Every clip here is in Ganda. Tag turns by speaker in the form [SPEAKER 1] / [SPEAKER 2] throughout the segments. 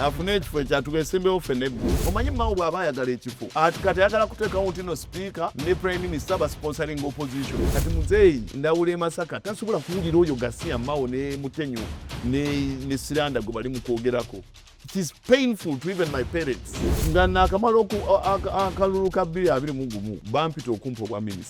[SPEAKER 1] afune ekifo ekyatugesembewo
[SPEAKER 2] ffe nebbi omanyi mawo bw'aba ayagala ekifo ati kati ayagala kuteekawo nti no sipiika ne prime minister basponsoring opposition kati muzeeyi ndawula e masaka tasobola kuwulira oyo gasiya mawo ne mutenyo ne siranda gwe bali mu kwogerako it is painful to even my parents nga nakamala akalulu ka 2 gumu bampita okumpa obwa minisita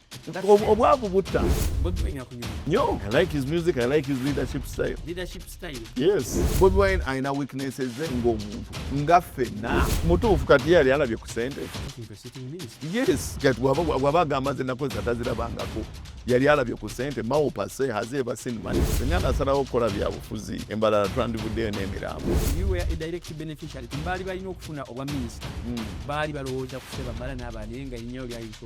[SPEAKER 1] obwavu
[SPEAKER 2] butta
[SPEAKER 1] nyo i like his
[SPEAKER 2] music i like his leadership style leadership style
[SPEAKER 1] yes bobi
[SPEAKER 2] wine alina weaknesses ze ng'omuntu nga fenna mutuufu kati yali alabye ku sente yes kati waba agamba ze nakozesa tazirabangako yali alabye ku sente mawo pase haze eva sin money singa nasalawo okukola byabufuzi embalala twandivuddeyo n'emirambo
[SPEAKER 1] baali balina okufuna obwa minisita hmm. baali balowooza kusebamala n'abaana naye nga enyawo lyayinza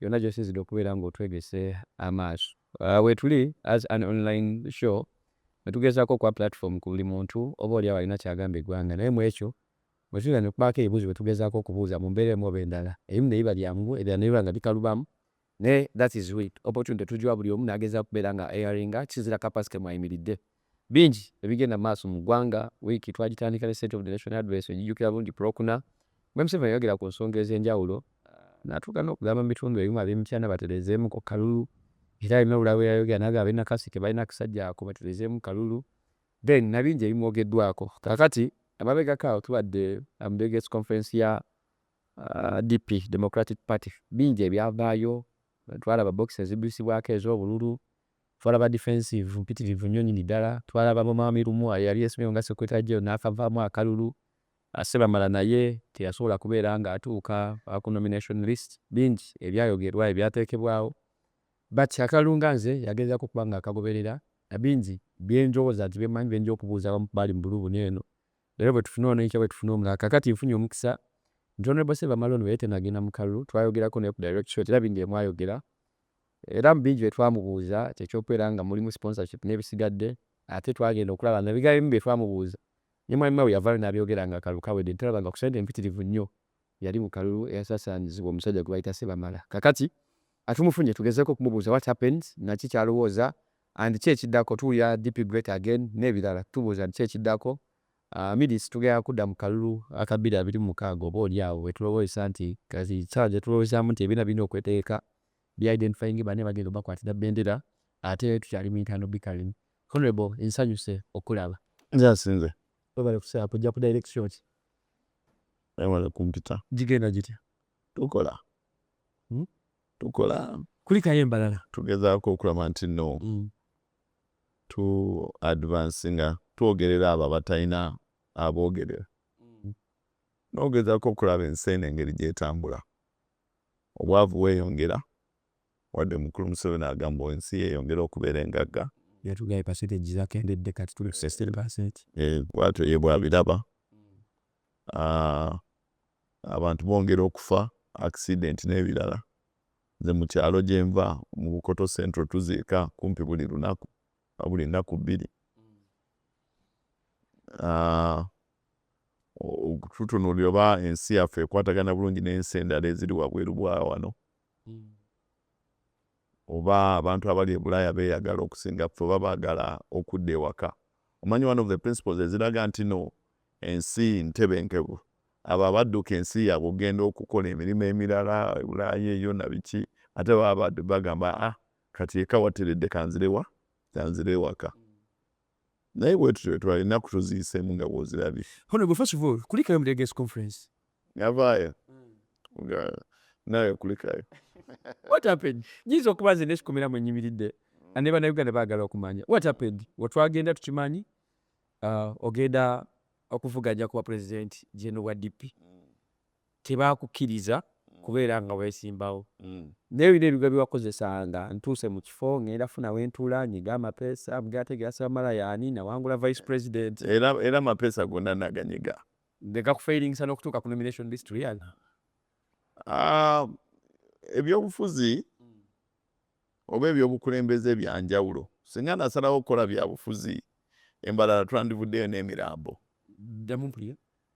[SPEAKER 1] yonna gyosinzidde okubeera ng'otwegese amaaso uh, wetuli as an online show netugezako okuwa platform ku buli muntu oba oli awo alina kyagamba eggwanga naye mu ekyo bwetuira nekubaako ebibuuzo bwetugezaako okubuuza mu mbeera emu oba endala ebimu nebiba byangu ebirala nebiba nga bikalubamu naye that is it opportunity tugiwa buli omu nagezaako okubeera nga airinga kisinzira kapasite mwayimiridde Bingi ebigenda mu maaso mu ggwanga. Wiiki twagitandika ne State of the Nation Address ojijjukira bulungi ku Lwokuna bwe Museveni yayogera ku nsonga ez'enjawulo n'atuuka n'okugamba mu bitundu ebimu ab'e Mityana batereezeemu ku kalulu era alina obulala bwe yayogera n'agamba ab'e Nakaseke balina akasajja ako batereezeemu kalulu then na bingi ebimwogeddwaako. Kaakati emabegako awo tubadde mu Delegates Conference ya DP, Democratic Party, bingi ebyavaayo, twalaba box eziddusibwako ez'obululu, Twala ba defensive mpitirivu nnyo nyini dala, twala ba Mwami Lumwa eyali yesomyewo nga secretary general nakavaamu akalulu, Sebamala naye teyasobola kubeera nga atuuka ku nomination list, bingi ebyayogerwa ebyatekebwawo but akalulu nga nze yagezako okuba nga akagoberera na bingi byenjowoza nti byemanyi byenja okubuuza abamu kubaali mu bulubuni eno era bwetufuna ono enkya bwetufuna omulala kakati nfunye omukisa nti Honorable Sebamala ono bweyatenagenda mu kalulu twayogerako naye ku direct shot era bingi byemwayogera Era mu bingi bye twamubuuza kye ky'okubeera nga mulimu sponsorship n'ebisigadde ate twagenda okulaba nga ebigambo ebimu bye twamubuuza ne Mwami Mao yavaayo n'abyogera ng'akalulu kawedde ne tulaba nga ku ssente mpitirivu nnyo yali mu kalulu eyasaasaanyizibwa omusajja gwe bayita Ssebamala. Kaakati ka tumufunye tugezeeko okumubuuza what happened, naki ky'alowooza and ki ekiddako. Tuwulira DP great again n'ebirala. Tubuuza nti ki ekiddako? Midis, tugenda kudda mu kalulu aka bbiri abiri mu mukaaga oba oli awo we tulowoozesa nti kati ssaawa gye tulowoozezaamu nti ebibiina birina okwetegeka be identifying bane bagenda obakwatira bendera ate tukyali mu internal bickering honorable nsanyuse okulaba nze asinze
[SPEAKER 2] webale kusaa
[SPEAKER 1] kujja ku direct shot
[SPEAKER 2] webale kumpita gigenda gitya
[SPEAKER 1] tukola hmm?
[SPEAKER 2] tukola kulikayo embalala
[SPEAKER 1] tugezaako okulaba
[SPEAKER 2] nti no hmm. tu advance nga twogerera abo abatalina aboogerera hmm. nogezaako okulaba ensi eno engeri gyetambula Obwavu bweyongera wadde omukulu Museveni agamba ensi yeyongera okubeera engagga. Yatugaye percentage
[SPEAKER 1] zakendedde kati tuli ku 16 percent. Eh, bwatyo ye
[SPEAKER 2] bwabiraba. Ah, abantu bongera okufa accident n'ebirala. Nze mu kyalo gye nva mu Bukoto Central tuziika kumpi buli lunaku, buli nnaku bbiri. Ah, okututunuulira oba ensi yaffe ekwatagana bulungi n'ensi endala eziri wabweru bwa wano hmm. oba abantu abali e bulaaya beeyagala okusinga ffe oba baagala okudda ewaka omanyi one of the principles eziraga nti no ensi ntebenkevu abo abadduka ensi yaabwe okugenda okukola emirimu emirala e bulaaya eyo na biki ate baba bagamba ah kati eka wateredde kanzirewa kanzire ewaka naye bwetutyo wetwali enaku toziyisemu nga bwozirabye honorable first of all
[SPEAKER 1] kulikayo mu delegates conference yavaayo
[SPEAKER 2] hmm. nga nawe kulikayo what
[SPEAKER 1] happened nyinza okuba nze nesikomera mu enyimiridde hmm. ne banauganda bagala okumanya what happened wetwagenda tukimanyi uh, ogenda okuvuganya kuba president jeno wa dp mm. tebakukkiriza kubeera nga weesimbawo naye olina ebigwa bye wakozesa nga ntuuse mu kifo ngenda funa we ntuula nyiga amapeesa bge ate ge asibamala yaani nawangula vice president era amapeesa
[SPEAKER 2] gonna naganyiga ne gakufeiringisa
[SPEAKER 1] n'okutuuka ku nomination list riana ah,
[SPEAKER 2] ebyobufuzi oba ebyobukulembeze byanjawulo singa nasalawo okukola byabufuzi embalala twandivuddeyo n'emirambo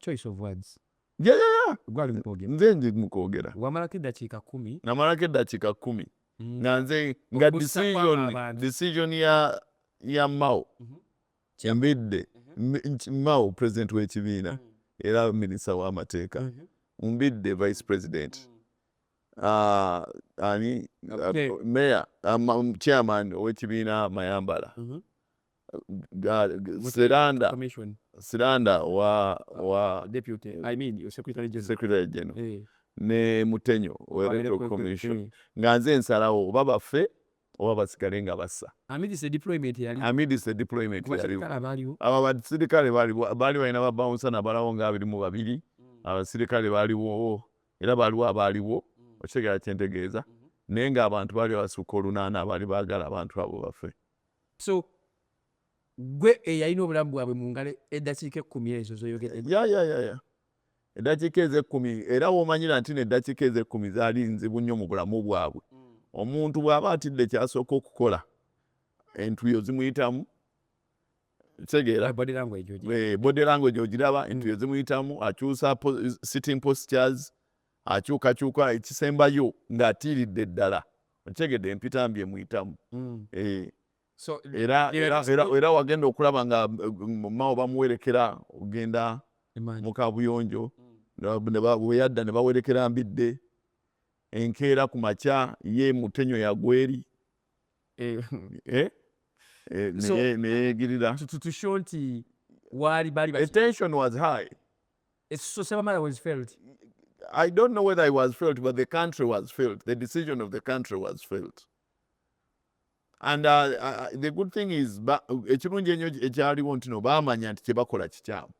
[SPEAKER 1] choice of words yeah, yeah, yeah. gwali
[SPEAKER 2] mukwogera nze ndi mukwogera wamalako eddakiika
[SPEAKER 1] kumi namalako eddakiika
[SPEAKER 2] kumi mm. nga nze nga decision decision ya ya mao mm-hmm. kyambidde mm-hmm. mao president w'ekibiina mm. era minisita w'amateeka mm-hmm. mbidde vice president mm. ah, ani ah, meya ah, chairman ow'ekibiina mayambala Siranda commission Siranda wa wa deputy I mean
[SPEAKER 1] your secretary general
[SPEAKER 2] secretary general eh ne Mutenyo wa Wabere electoral kwe- commission eh. nga nze nsalawo oba bafe oba basigale nga bassa amidst the deployment
[SPEAKER 1] yali amidst the deployment yaliwo kubasirikale
[SPEAKER 2] abaaliwo abo abasirikale baali baali balina babawunsa nabalawo nga abiri mu babiri abasirikale baaliwo era baaliwo abaaliwo okitegera kyentegeeza naye ng'abantu baali basukka olunaana abaali baagala abantu abo bafe so
[SPEAKER 1] gwe eyalina obulamu bwabwe mu ngalo eddakiika ekkumi ezo zoyogeredde ya ya ya ya eddakiika
[SPEAKER 2] ezo ekkumi era womanyira nti no eddakiika ezo ekkumi zaali nzibu nnyo mu bulamu bwabwe mm. omuntu bw'aba atidde kyasooka okukola entuyo zimuyitamu kitegeera body language ogiraba entuyo zimuyitamu akyusa sitting postures akyukakyuka ekisembayo ng'atiiridde ddala okitegedde empita mbi emuyitamu mm. eh. era wagenda okulaba nga mao bamuwerekera ogenda mukabuyonjo mm. weyadda ne bawerekera mbidde enkeera ku makya ye mutenyo yagweri eh. eh? neyegirira tutusho nti
[SPEAKER 1] waali bali
[SPEAKER 2] Ekisuso
[SPEAKER 1] Sebamala was failed. I don't
[SPEAKER 2] know whether I was failed, but the country was failed. The decision of the country was failed. And uh, uh, uh the good thing is, ekirungi enyo ekyaliwo ntino bamanya nti kyebakola kikyamu.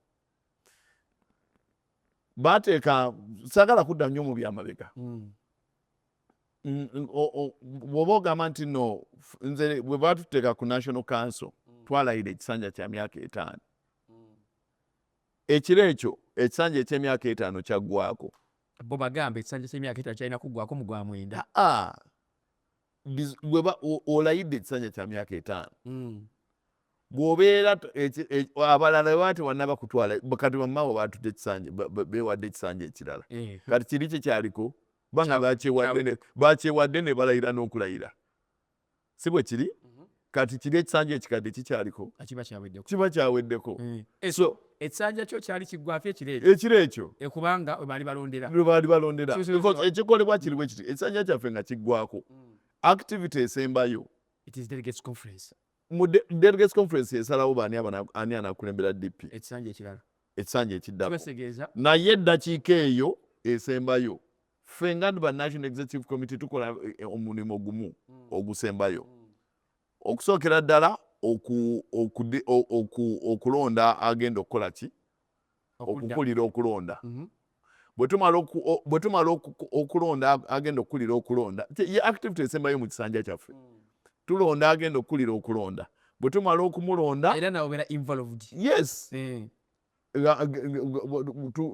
[SPEAKER 2] Bateeka sagala kudda nnyo mu byamabega. Hmm. Bw'oba ogamba nti no, nze bwe batuteeka ku National Council, hmm. twalayira ekisanja kya myaka etaano. Ekiro ekyo ekisanja eky'emyaka etaano kyaggwaako. Bo bagamba
[SPEAKER 1] ekisanja ky'emyaka etaano kyalina kuggwaako mu gwa mwenda. Aa, biz- gwe
[SPEAKER 2] ba- o- olayidde ekisanja kya myaka etaano Mm. bw'obeera t- eki- e- abalala bwe baba tebannaba kutwala kati bammawo baatute ekisanja ba- ba- beewadde ekisanja ekirala Eh. kati kiri kye kyaliko banga bakyewadde ne- bakyewadde ne balayira n'okulayira si bwe kiri kati kiri ekisanja ekikadde kikyaliko kiba kyaweddeko kiba kyaweddeko eh, eh, so
[SPEAKER 1] ekisanja kyo kyali kiggwafi ekiro ekyo ekiro ekyo
[SPEAKER 2] eh, kubanga webaali
[SPEAKER 1] balondera webaali balondera ekikolebwa
[SPEAKER 2] kiri bwe kiti ekisanja kyaffe nga kiggwako mm. activity esembayo it is delegates
[SPEAKER 1] conference mu delegates
[SPEAKER 2] conference esalawo baani ani anakulembera dp ekisanja ekirala ekisanja ekiddako naye eddakiika eyo esembayo ffe nga ba national executive committee tukola eh, eh, omulimu gumu mm. ogusembayo mm. okusookera ddala okulonda agenda okukola ki okukulira okulonda mm-hmm. bwe tumala okulonda agenda okukulira okulonda ye activity esembayo mu kisanja kyaffe mm. tulonda agenda okukulira okulonda
[SPEAKER 1] bwe
[SPEAKER 2] tumala okumulonda yes eh.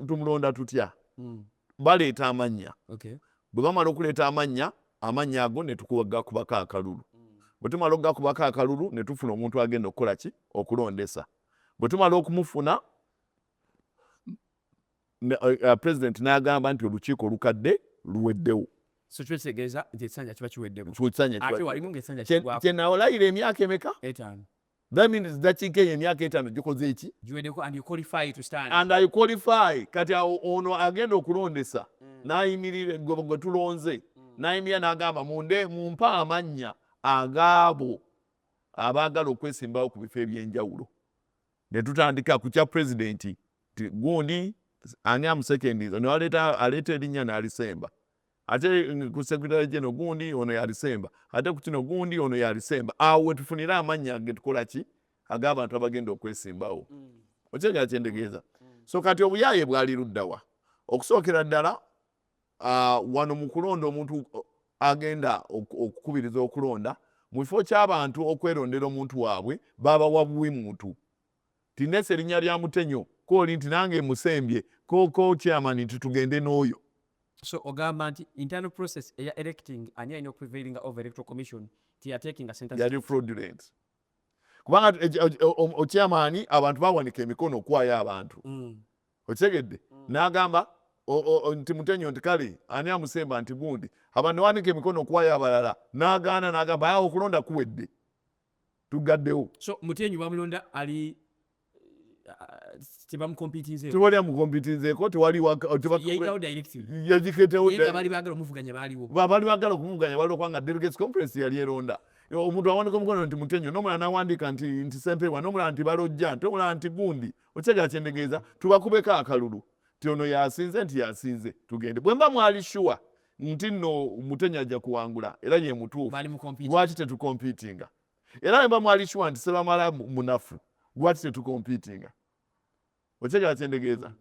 [SPEAKER 2] tumulonda tutya hmm. baleeta amannya bwe bamala okuleeta amannya amannya ago netukugakubako akalulu hmm. bwe tumala okugakubako akalulu ne tufuna omuntu agenda okukola ki okulondesa bwe tumala okumufuna eh, eh, president n'agamba nti olukiiko olukadde luweddewo
[SPEAKER 1] kyenawolayira
[SPEAKER 2] emyaka emeka That means dakiika eyo emyaka etaano gikoze eki? Giwedeko and you qualify to stand. And I qualify. Kati awo ono agenda okulondesa mm. n'ayimirira gwe tulonze mm. n'ayimirira n'agamba munde mumpe amannya agaabo abaagala okwesimbawo ku bifo eby'enjawulo ne tutandika ku kya pulezidenti gundi ani amusekendiza ne aleeta erinnya n'alisemba ate eh, ku secretary general gundi ono yalisemba ate ku kino gundi ono yalisemba awo wetufunire amannya getukola ki ag'abantu abagenda okwesimbawo mm. okyegera kyendegeeza mm. so kati obuyaaye bwali luddawa okusookera ddala ah, wano mu kulonda omuntu agenda okukubiriza okulonda mu kifo ky'abantu okwerondera omuntu waabwe babawa buwi muntu nti nesa erinya lya mutenyo koli nti nange musembye koko chairman nti tugende noyo So ogamba
[SPEAKER 1] nti internal process eya electing ani alina okuprevailinga over electoral commission tiyatekinga sente yali fraudulent
[SPEAKER 2] kubanga okyamaani abantu bawanika emikono okuwaayo abantu mm. okitegedde mm. n'agamba nti mutenyo nti kale ani amusemba nti gundi abantu newanika emikono okuwaayo abalala n'agaana n'agamba awo okulonda kuwedde tugaddewo so mutenyi
[SPEAKER 1] bamulonda ali
[SPEAKER 2] tebamukompitizeeko tewaliyaketewobaali
[SPEAKER 1] bagala okumuvuganya
[SPEAKER 2] bali okuba nga delegates conference yali eronda omuntu awandika omukono nti mutenyo nomulala nawandika nti nti sempewa nomulala nti balojja nti omulala nti gundi okyegera kyendegeeza tubakubeko akalulu ti ono yasinze nti yasinze tugende bwemba mwali shuwa nti nno mutenyi ajja kuwangula era ye mutuufu lwaki tetukompitinga era ne bamwali shuwa nti sebamala munafu lwaki tetukompitinga okyegera kyendegeeza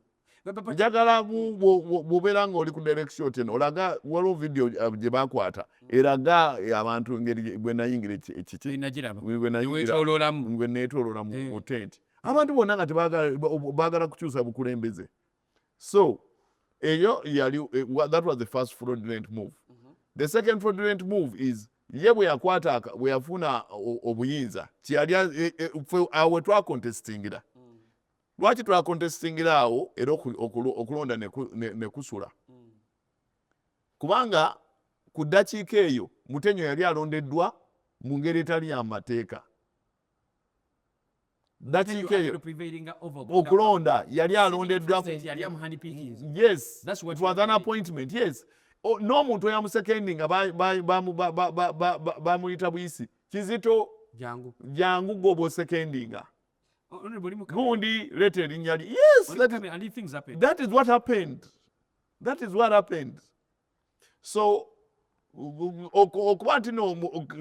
[SPEAKER 2] njagala bwobeera nga oli ku direction oti eno olaga waliwo vidiyo uh, gye bakwata eraga eh, abantu engeri bwe nayingira ekikibwenayingirabwenetololamu eh. otenti abantu bonna nga tebagala kukyusa bukulembeze so eyo yali eh, that was the first fraudulent move mm -hmm. the second fraudulent move is ye bwe yakwata bwe yafuna obuyinza kyeyali eh, eh, fe awo wetwakontestingira mm. lwaki twakontestingira awo era okulonda nekusula ne, ne mm. kubanga ku ddakiika eyo mutenyo yali alondeddwa mu ngeri etali yamateeka ddakiika eyo okulonda yali alondeddwa yes it was an appointment yes n'omuntu oyamusekendi nga bamuyita buyisi kizito jangu gwoba osekendinga gundi leeta erinnya li yes that is what happened that is what happened so okuba nti no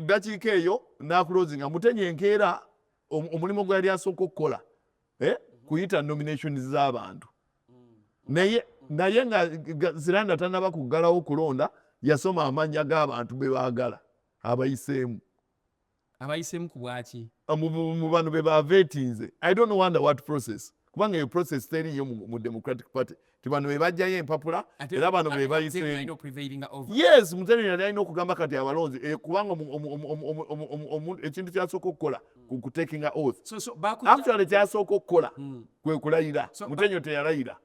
[SPEAKER 2] dakiika eyo nakulozinga mutenya enkeera omulimu gwe yali asooka okukola eh, kuyita nominations z'abantu naye naye nga ziranda tanaba kuggalawo kulonda yasoma amannya g'abantu be baagala abayiseemu
[SPEAKER 1] abayisemu ku bwaki mu bano be
[SPEAKER 2] bavetinze i don't wonder what process kubanga eyo process teriyo mu democratic party ti bano bebajjayo empapula era bano bebayiseyes museveni yali alina okugamba kati abalonzi eh, kubanga ekintu kyasooka okukola kutekinga oath actually kyasooka okukola hmm. kwekulayira mutenyo teyalayira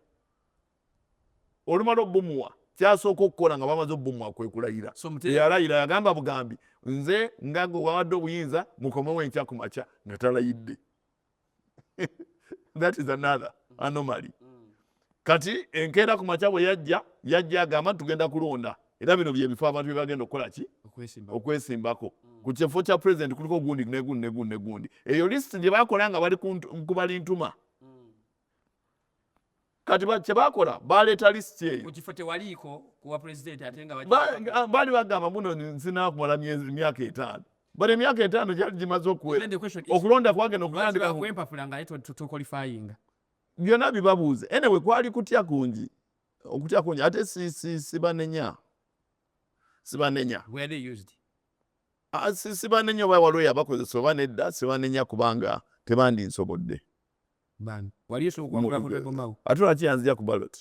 [SPEAKER 2] olumala obumuwa kyasooka okukola nga bamaze obumuwa kwekulayira eyalayira yagamba bugambi nze nga gwe wawadde obuyinza mukomewo enkya ku makya nga talayidde that is another anomaly kati enkeera ku makya bwe yajja yajja agamba nti tugenda kulonda era bino byebifo abantu byebagenda okukola ki okwesimbako mm. ku kifo kya president kuliko gundi negundi negundi negundi eyo list gyebakola nga bali kubali ntuma kati kyebakola baleeta lisiti eyo mukifo tewaliiko
[SPEAKER 1] kuwa pulezidenti ate nga baali bagamba
[SPEAKER 2] muno nzinakumala myaka etaano but emyaka etaano gyali gimaze okuwera okulonda kwagenda okutandikakwempapula nga
[SPEAKER 1] tukolifayinga byonna
[SPEAKER 2] bibabuuza enewe kwali kutya kungi okutya kungi ate sibanenya sibanenya sibanenya oba waliwo yabakozesa oba nedda sibanenya kubanga tebandinsobodde
[SPEAKER 1] ate lwaki yanzija ku balot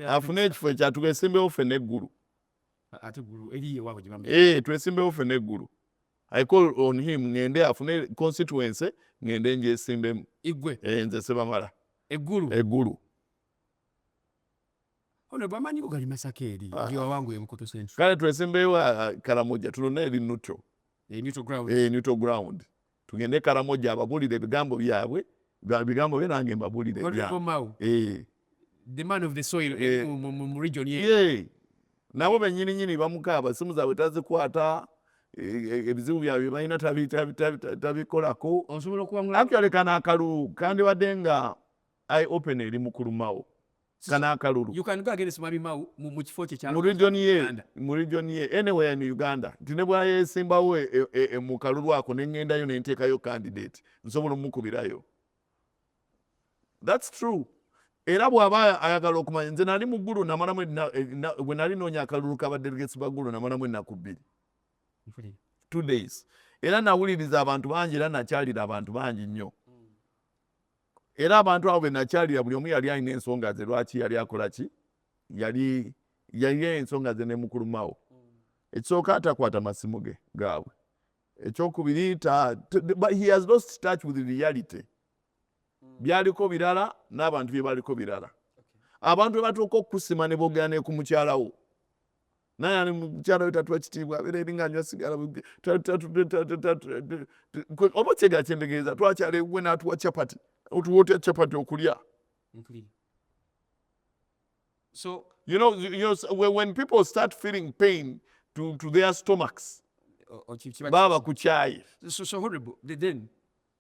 [SPEAKER 1] afune ekifo ekya
[SPEAKER 2] twesimbewo ffe neggulu
[SPEAKER 1] eh, twesimbewo ffe neggulu
[SPEAKER 2] i call on him ngende afune constituency ngende njesimbemu eh, nze
[SPEAKER 1] sebamala
[SPEAKER 2] eggulu
[SPEAKER 1] Ono bamanyi bugali masaka eri ah. ndi wawangu ebukoto central. Kale twesimbeyo ah, ah,
[SPEAKER 2] Karamoja tulona eri neutral. E neutral ground. E neutral ground. Tugende Karamoja ababulire ebigambo byabwe bigambo bye nange mbabulire ebyange. Eh.
[SPEAKER 1] The man of the soil eh, eh. mu region ye. Yeah.
[SPEAKER 2] Nabo benyini nyini bamukaaba simu zaabwe tazikwata ebizibu byabwe balina tabikolako. Actually
[SPEAKER 1] kano akalulu
[SPEAKER 2] kandibadde nga eye open eri mukulumawo. kana akalulu you can go against mwami
[SPEAKER 1] mau mu kifo kye kya mu region ye
[SPEAKER 2] mu region ye anywhere in uganda nti ne bwayesimbawo e, e, e, mu kalulu ako ne ngendayo ne nteekayo candidate nsobola omukubirayo that's true era bw'aba ayagala okumanya nze nali mu ggulu namalamu bwe nali noonya akalulu ka badelegates ba ggulu namalamu ennaku bbiri two days era nawuliriza abantu bangi era nakyalira abantu bangi nnyo Era abantu abo benakyalira buli omu yali alina ensonga ze lwaki yali akola ki yali yalina ensonga ze nemukulumawo ekisooka atakwata masimu ge gaabwe ekyokubiri he has lost touch with reality hmm. byaliko birala n'abantu byebaliko birala abantu bebatuuka okukusima nebogera nekumukyalawo naye ali mukyala we tatuwa kitiibwa abeera eri nga anywa sigala oba kyega kyendegeeza twakyala ewuwe n'atuwa capati otuwa otya capati okulya
[SPEAKER 1] so you know, you
[SPEAKER 2] know when people start feeling pain to, to their stomachs baba kukyaye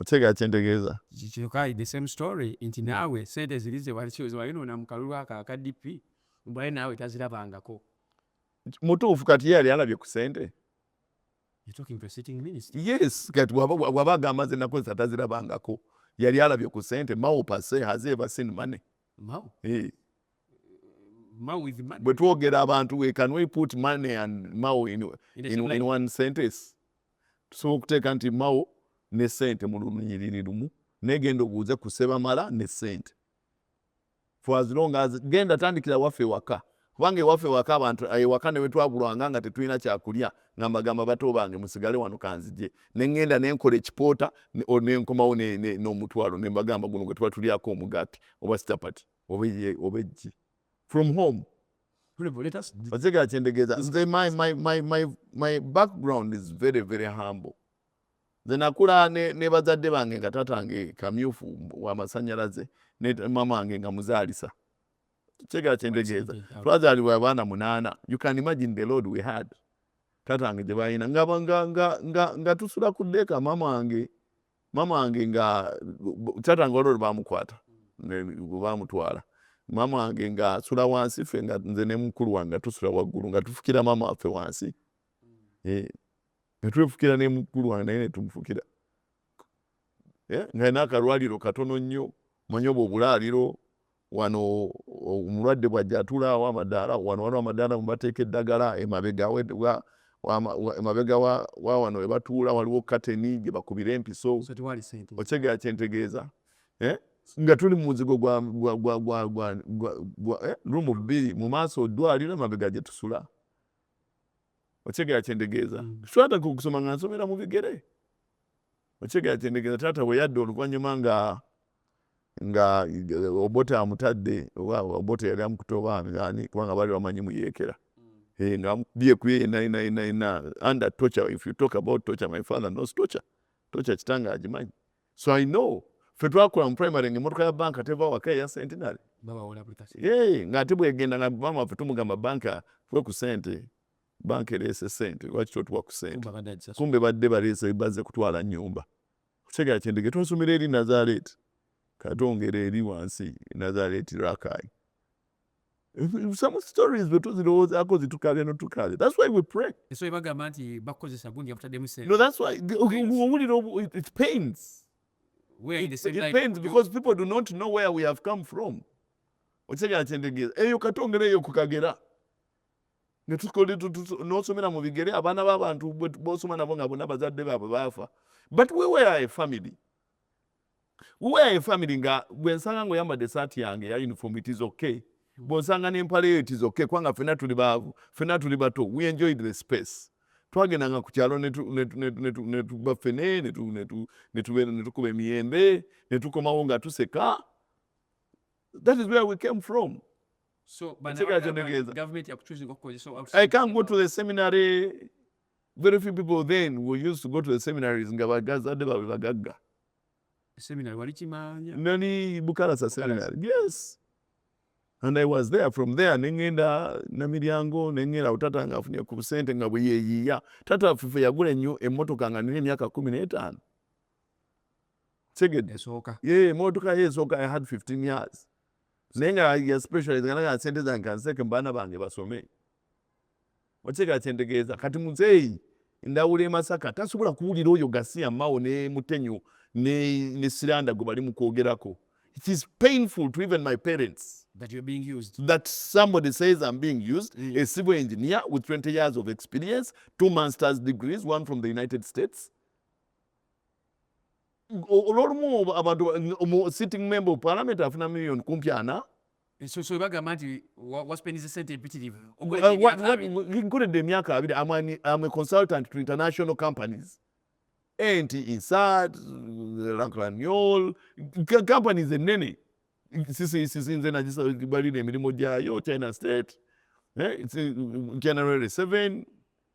[SPEAKER 2] otegera kyentegeeza kyoka the same
[SPEAKER 1] story nti naawe sente ziri zewalinoona mu kalulu ako aka dp mbwaye naawe tazirabangako
[SPEAKER 2] mutuufu kati ye yali alabye ku sente
[SPEAKER 1] yes kati
[SPEAKER 2] waba agamba nze nakozesa tazirabangako yali alabye ku sente mao pase has ever seen money mao
[SPEAKER 1] hey. Eh. bwe twogera abantu we
[SPEAKER 2] can we put money and mao in, in, in, in one sentence tusobola okuteeka nti mao ne sente mu lunyiriri lumu naye genda obuuze ku sebamala ne sente for as long as genda tandikira waffe ewaka kubanga ewaffe ewaka abantu eh, ewaka ne wetwabulwanga nga tetulina kyakulya nga mbagamba bato bange musigale wano kanzije ne ŋŋenda ne nkola ekipoota ne nkomawo n'omutwalo ne mbagamba guno gwe tuba tulyako omugaati oba sitapati oba eggi from home otegera kyendegeeza nze my, my, my, my, my background is very very humble nze nakula ne, ne bazadde bange nga taata nge kamyufu wamasanyalaze ne mama wange nga muzaalisa kyegera kyendegeeza twazaalibwa abaana munaana you can imagine the load we had taata wange gye balina nga, nga, nga, nga, nga tusula ku deeka mama wange maama wange nga taata nga olwolwo bamukwata bamutwala maama wange nga asula wansi fe nga nze ne mukulu wange nga tusula waggulu nga tufukira maama waffe wansi eh, nga twefukira ne mukulu wange naye netumufukira eh, nga alina akalwaliro katono nnyo manya obwo obulaaliro wano omulwadde bwajja atulaawo amadaala wano waliwo amadaala mubateeka eddagala emabega emabega wa wano webatuula waliwo kateni gyebakubira empiso okitegera kyentegeeza eh? nga tuli mu muzigo gwa eh? rumu bbiri mu maaso oddwaliro emabega gyetusula okitegera kyentegeeza mm. twataka okusoma nga nsomera mu bigere Okitegeera nti endiga taata bwe yadda oluvannyuma nga nga Obote amutadde oba Obote yali amukuta oba ani kubanga baali bamanyi muyeekera hmm. eh, nga amukubye ku ye yena yena yena yena under torture if you talk about torture my father knows torture torture kitange agimanyi so i know ffe twakola mu primary nga emotoka ya banka teva waka eya centenary ng'ate bwegenda nga maama waffe tumugamba banka fwe ku sente banka ereese sente lwaki totuwa ku sente kumbe badde bareese baze kutwala nyumba kutegera kyendege twasomera eri nazareti katongera eri wansi nazareti rakai some stories bwetuzirowoozaako zitukabya notukabya thats why we pray ensobe bagamba nti
[SPEAKER 3] bakukozesa gundi yabutaddemu sente no thats
[SPEAKER 2] why owulira it pains it pains because people do not know where we have come from okitegera kyendegeeza eyo katongera eyo kukagera nosomera mu bigere abaana babantu bosoma nabo nga bona bazadde baabwe baafa but we were a family we were a family nga bwensanga nga oyambadde esaati yange ya uniform it is okay bwonsanga nempala eyo it is okay kubanga fena tuli baavu fena tuli bato we enjoyed the space twagendanga ku kyalo netuba fene netukuba emiyembe netukomawo nga tuseka that is where we came from
[SPEAKER 3] So, government so I can't go
[SPEAKER 2] to the seminary. Very few people then were used to go to the seminaries nga bagazadde baabwe bagagga. Seminary
[SPEAKER 3] wali kimanya? Nani Bukalasa
[SPEAKER 2] seminary. Yes. And I was there from there ne ngenda Namiryango ne ngenda utata nga afunye ku sente nga bwe yeyiya. Tata fufe yagula nnyo emmotoka nga nina emyaka kumi n'etaano. Tegedde. Esooka. Ye emmotoka
[SPEAKER 3] ye esooka
[SPEAKER 2] I had 15 years. naye nga ya specialize nga naga sente zange kanseke baana bange basome okitegera kyentegeeza kati muzeeyi ndawula emasaka tasobola kuwulira oyo gasiya mao ne mutenyo ne siranda gwe bali mukwogerako it is painful to even my parents that you're being used
[SPEAKER 3] that somebody
[SPEAKER 2] says i'm being used mm. a civil engineer with 20 years of experience two masters degrees one from the united states olwolumu abantu omu sitting member of parliament afuna million kumpi ana ensoso
[SPEAKER 3] ebagamba nti waspendiza sente empitirivu
[SPEAKER 2] nkoledde emyaka abiri am a consultant to international companies ent insat lancraniol companies ennene sisisinze nagibalira emirimu gyayo china state eh, china rere seven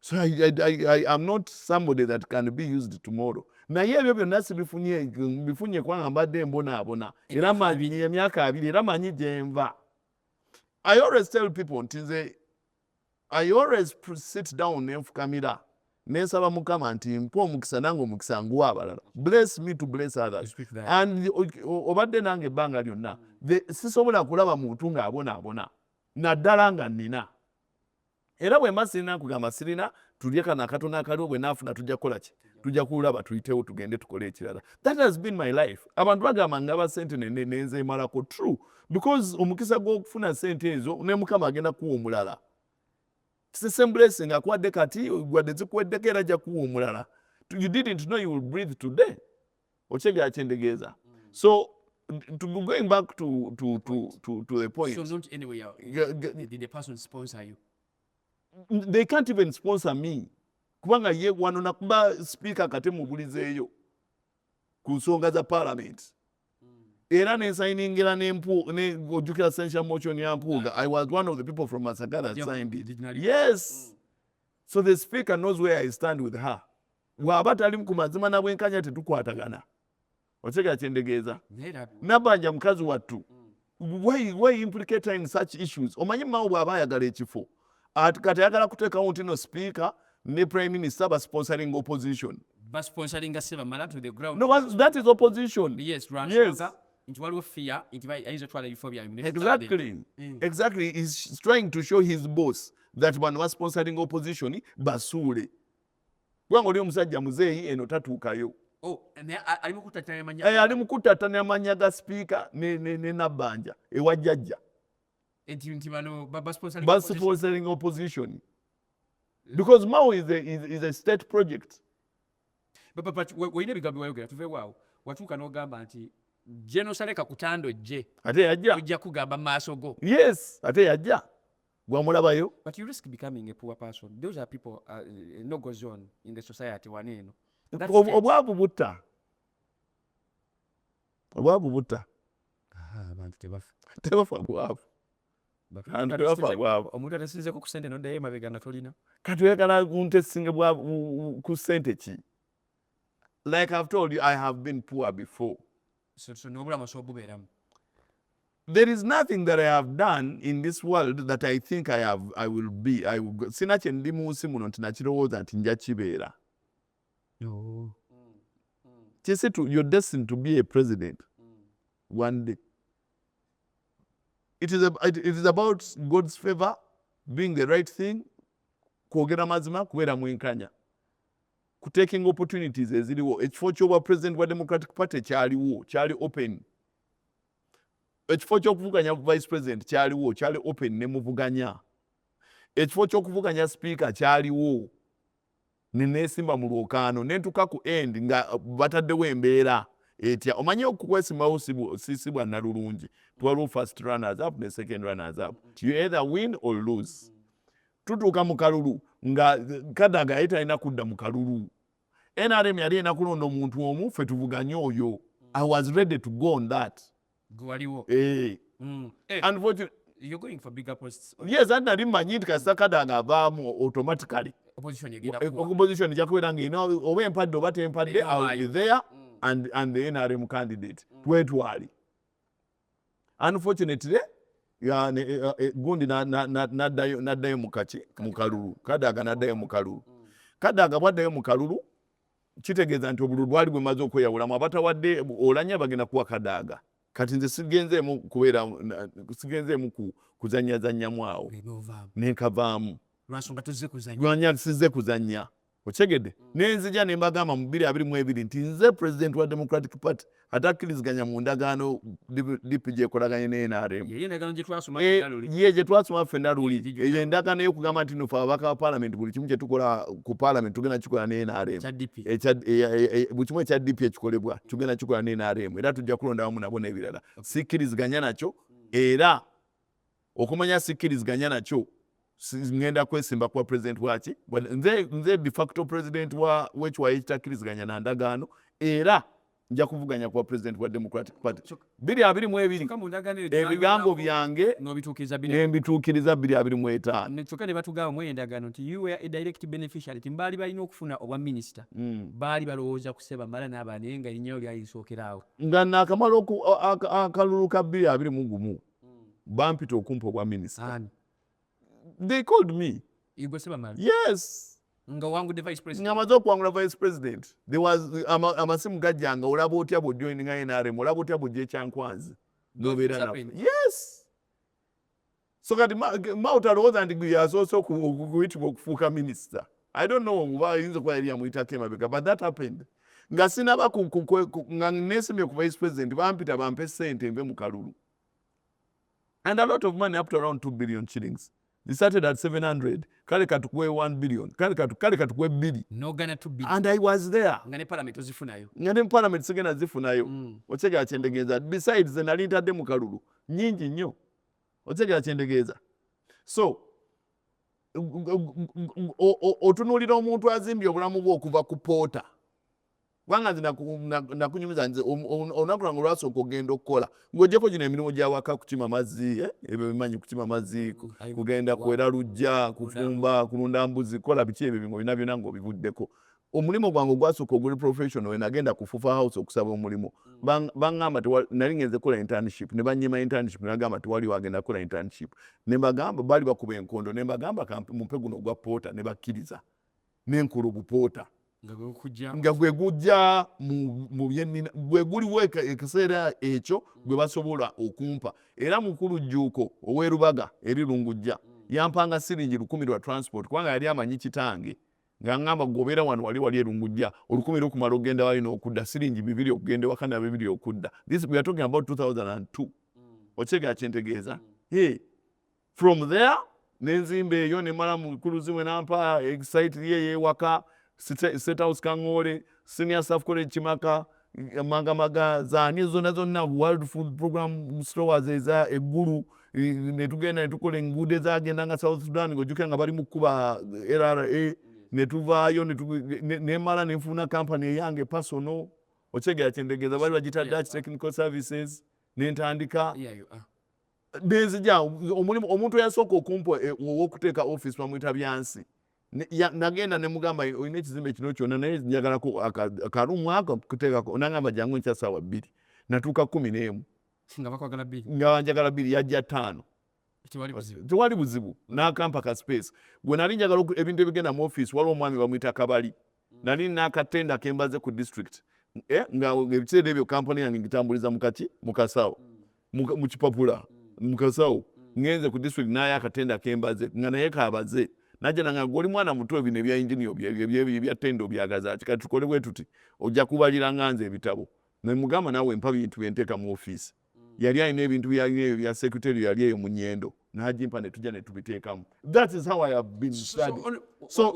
[SPEAKER 2] So I, I, I, I am not somebody that can be used tomorrow. Naye ebyo byonna sibifunye bifunye kubanga mbadde mbonaabona era manyi emyaka abiri era manyi gyenva. I always tell people nti nze I always sit down nenfukamira nensaba mukama nti mpa omukisa nange omukisa nguwa abalala bless me to bless others and obadde nange ebbanga lyonna sisobola kulaba muntu ng'abonaabona naddala nga nina Era bwemba sirina nkugamba sirina tulye kano akatono akaliwo bwenafuna tujja kukola ki tujja kulaba tuyitewo tugende tukole ekirala that has been my life abantu bagamba ngaba sente nenzemalako true because omukisa gwokufuna sente ezo ne mukama agenda kuwa omulala same blessing akuwadde kati wadde zikuweddeko era ajja kuwa omulala you didn't know you will breathe today okitegera kyentegeeza so to be going back to to to to, to the point so not
[SPEAKER 3] anyway uh, did the person sponsor you they
[SPEAKER 2] can't even sponsor me kubanga ye wano nakuba speaker kate mubulizeeyo ku nsonga za parliament era nensayiningira ojjukira sentia motion ya mpuuga i was one of the people from masagara signed it yes mm. so the speaker knows where i stand with her Waba tali ku mazima na bwenkanya tetukwatagana. Otegera kyendegeeza? Nabanja mukazi wattu. Mm. Why, why implicate in such issues? Omanyi mawo bw'aba ayagala ekifo. Kati ayagala kuteekawo ntino sipiika ne prime minister ba sponsoring opposition. Ba sponsoring
[SPEAKER 3] a silver mala to the ground. No, that is
[SPEAKER 2] opposition. Yes, right. Yes.
[SPEAKER 3] Nti waliwo fear, nti bai ayinza twala ebifo bya
[SPEAKER 2] minister. Exactly. Mm. Exactly. He's trying to show his boss that bano ba sponsoring opposition basuule. kubanga oli omusajja muzeeyi eno tatuukayo oh, ali mukutatanya eh, manya ga sipiika ne nabbanja ewa jjajja basponsoring opposition because mao is a, is, is a state project
[SPEAKER 3] olina ebigambo byewayogera tuveewaawo watuuka n'ogamba nti genosaleka kutando jje ate yajja ojja
[SPEAKER 2] kugamba maaso
[SPEAKER 3] go yes ate yajja
[SPEAKER 2] gwamulabayo but you risk becoming
[SPEAKER 3] a poor person those are people uh, eh, no goes on in the society wano eno obwavu
[SPEAKER 2] butta obwavu butta
[SPEAKER 3] abantu tebafa tebafa
[SPEAKER 2] bwavu
[SPEAKER 3] omuntu atasinzeko ku sente noddayo emabega nga tolina kati oyagala kunte
[SPEAKER 2] singa ku sente ki like i've told you i have been poor before So, so nobulamu
[SPEAKER 3] osobola okubeeramu
[SPEAKER 2] there is nothing that i have done in this world that i think i have i will be i will sina kye ndi mu nsi muno nti nakirowooza nti nja kibeera no. kisi to you're destined to be a president mm. one day it is, a, it, it is about god's favor doing the right thing kwogera mazima kubeera mwenkanya ku taking opportunities eziriwo ekifo kyobwa president bwa democratic party kyaliwo kyali open ekifo kyokuvuganya vice president kyaliwo kyali open nemuvuganya ekifo kyokuvuganya speaker kyaliwo nenesimba mu lwokaano nentuka ku end nga uh, bataddewo embeera etya omanyi okukwesimbawo si bwa nalulungi twaliwo first runners up ne second runners up you either win or lose tutuuka mu kalulu nga kadaga yali talina kudda mu kalulu nrm yali erina kulonda omuntu omu fe tuvuganye oyo i was ready to go on that gwaliwo eh.
[SPEAKER 3] mm. eh.
[SPEAKER 2] unfortunately You're going
[SPEAKER 3] for bigger posts. Yes, and nali manyi
[SPEAKER 2] nti kasita kadaga avaamu automatically opposition egenda
[SPEAKER 3] eh, kuwa opposition ejja kubeera nga erina
[SPEAKER 2] oba empadde oba tempadde i will be there mm. and, and the nrm candidate mm. twetwali unfortunately yani eh, eh, eh, gundi naddayo mukaki mukalulu kadaga naddayo mukalulu mm. kadaga bwaddayo mukalulu kitegeeza nti obululu bwali bwemaze okweyawulamu abatawadde olanya bagenda kuwa kadaga kati nze sigenzeemu kubeera sigenzeemu kuzanyazanyamu awo nenkavaamu
[SPEAKER 3] lwanya size kuzanya
[SPEAKER 2] okitegedde nenzija nembagamba mu biri abiri mu ebiri nti nze president wa democratic party atakkiriziganya mu ndagaano dp gyekolaganye ne nrm
[SPEAKER 3] ye gyetwasoma ffe
[SPEAKER 2] naluli eyo endagaano eyokugamba nti nofe ababaka ba parliament buli kimu kyetukola ku parliament tugenda kikola ne nrm buli kimu ekya dp ekikolebwa tugenda kikola ne nrm era tujja kulonda wamu nabo nebirala sikkiriziganya nakyo era Okumanya sikkiriziganya nakyo ngenda kwesimba kuba president waki nze, nze de facto president wa wekiwayo ekitakkiriziganya na ndagaano era nja kuvuganya kuba president wa democratic party biri abiri mu ebiri ebigambo byange nembituukiriza biri abiri mu etaano kyokka ne batugamba mu
[SPEAKER 3] endagaano nti you were a direct beneficiary ti baali balina okufuna obwa minisita hmm. baali balowooza kuseba mala n'abaana naye nga erinyayo lyali lisookeraawo nga naakamala
[SPEAKER 2] akalulu ka biri abiri mu gumu bampita okumpa obwa minisita they called me
[SPEAKER 3] yes ngamaze okuwangula vice
[SPEAKER 2] president amasimu gajja nga olaba otya bwojoininga nrm olaba otya bwojja ekyankwanzi nobeera na yes so kati mauta alowooza nti gwe yasoose okuyitibwa okufuuka minisita I don't know oba ayinza okuba yali yamuyitako emabega but that happened nga sinaba nga nesimye ku vice president bampita bampe sente nve mu kalulu and a lot of money up to around 2 billion shillings they started at 700 kale katukuwe 1 billion kale katu kale katukuwe bili nogana 2 billion and
[SPEAKER 3] i was there nga
[SPEAKER 2] ne parliament ozifunayo
[SPEAKER 3] nga ne parliament sigena
[SPEAKER 2] zifunayo mm. ochega achendegeza besides the nalinta de mukalulu nyingi nyo ochega achendegeza so otunuulira omuntu azimbye obulamu bwe okuva ku poota kubanga nze nakunyumiza nze olunaku lwange olwasooka okugenda okukola ngaogyeko gino emirimu gyawaka kukima mazzi eh, ebyo bimanyi kukima mazzi kugenda kwera lujja kufumba kulunda mbuzi kukola biki ebyo bingo bina byona ngaobivuddeko omulimu gwange ogwasooka oguli professional we nagenda ku fufa house okusaba omulimu mm. bangamba nali ngenze kukola internship ne banyima internship ne bagamba tewali wagenda kukola internship ne bagamba bali bakuba enkondo ne bagamba mumpe guno ogwa poota ne bakkiriza ne nkola ogupoota nga gwe gujja mu byenina gwe guliwo ekiseera ekyo mm. gwe basobola okumpa era mukulu jjuuko ow'erubaga eri lungujja mm. yampanga siringi lukumi lwa transport kubanga yali amanyi kitange nga ngamba gwe obeera wano wali wali erungujja olukumi lukumala okugenda wali n'okudda siringi bibiri okugenda ewaka na bibiri okudda this we are talking about 2002 okyegera kyentegeeza hey, from there nenzimba eyo nemala mukuluzi mwe nampa exite ye yewaka state house kangole senior staff college kimaka Emmagambaga zaani zonna zonna, World Food Program Stores eza e Gulu, ne tugenda ne tukola enguudo ezagendanga South Sudan, ng'ojjukira nga bali mu kukuba LRA, ne tuvaayo ne tu- ne- ne- ne mala ne nfuna kampani eyange pasono, okitegeera kye ntegeeza, baali bagiyita Dutch Technical Services, ne ntandika Yeah, you
[SPEAKER 3] are. nenzija
[SPEAKER 2] omulimu omuntu eyasooka okumpa e- ow'okuteeka office bamuyita byansi nagenda nemugamba olina ekizimbe kino kyona naye njagalako akarumu ako kutekako nangamba jangu nkya sawa bbiri natuuka kumi nemu
[SPEAKER 3] nga njagala bbiri yajja
[SPEAKER 2] taano tewali buzibu nakampa ka space gwenali njagala ebintu ebigenda mu office waliwo omwami bamwita kabali nali nina akatenda kembaze ku district eh, nga ebiseera ebyo kampani yange ngitambuliza mukaki mukasawo mukipapula mukasawo ngenze ku district naye akatenda kembaze nga naye kabaze naja nanga goli mwana muto ebino ebya engineer ebya tendo byagazaki kati tukole bwetuti ojja kubalira nganze ebitabo nemugamba nawe mpa bintu byenteka mu office yali alina ebintu byalina ebyo bya secretary yali eyo mu nyendo najimpa ne tujja ne tubiteekamu that is how i have been study so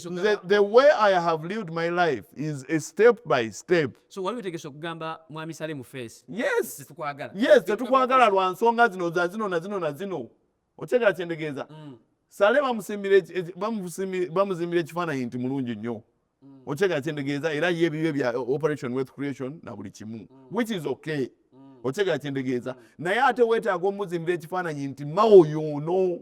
[SPEAKER 2] the, the way i have lived my life is a step by step so wali wetegese okugamba
[SPEAKER 3] mwami sale mu face yes tetukwagala
[SPEAKER 2] yes tetukwagala lwa nsonga zino za zino na zino na zino okitegera kyentegeeza mm. sale bamuzimbira ekifaananyi nti mulungi nnyo mm. okitegera kyentegeeza era ye ebibyo bya operation wealth creation na buli kimu mm. which is okay okitegera kyentegeeza naye ate weetaaga omuzimbira ekifaananyi nti mawo yoono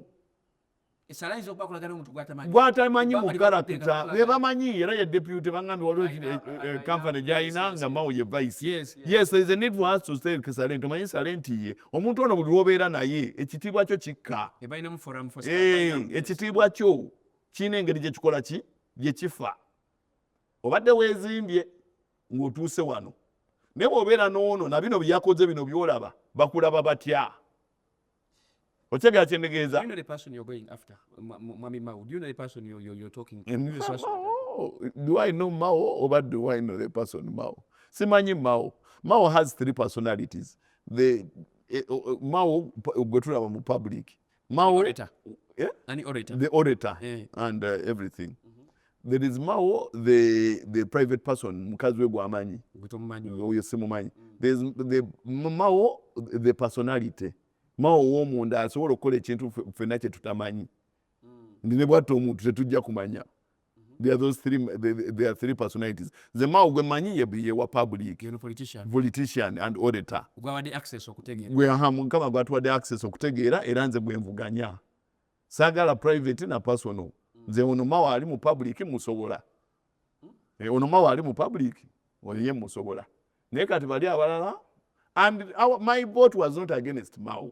[SPEAKER 2] gwatamanyi mukarakita bebamanyi era ye deputy bangambye waliwo kampany gyalina nga mawo ye vice yes there is a need for us to say salenti omanyi salenti ye omuntu ono buli lwobeera naye ekitiibwa kyo kikka ekitiibwa kyo kirina engeri gyekikola ki gyekifa obadde wezimbye ngaotuuse wano naye bwobeera noono na bino byeyakoze bino byolaba bakulaba batya okyegera kyendegeeza do i know mao oba do i know the person mao simanyi mao mao has three personalities the eh, oh, oh, mao gwe tulaba mu public mao orator.
[SPEAKER 3] Yeah? Any orator.
[SPEAKER 2] the
[SPEAKER 3] orator yeah.
[SPEAKER 2] and uh, everything mm -hmm. there is mao the, the private person mukazi we gwamanyi oyo simumanyi mm. there is the mao the personality mao womunda asobola okukola ekintu fenna kyetutamanyi mm. ndi ne bwatta omuntu tetujja kumanya There are those three, there are three personalities. The Mao gwe manyi ye ye wa public. Ye politician. Politician and auditor. Gwa wade access
[SPEAKER 3] okutegeera. Gwe aha mukama gwa tuwade
[SPEAKER 2] access okutegeera era nze gwe mvuganya. Sagala private na personal. Nze ono Mao ali mu public musobola. Eh, ono Mao ali mu public. Ono ye musobola. Naye kati bali abalala and our, my vote was not against Mao.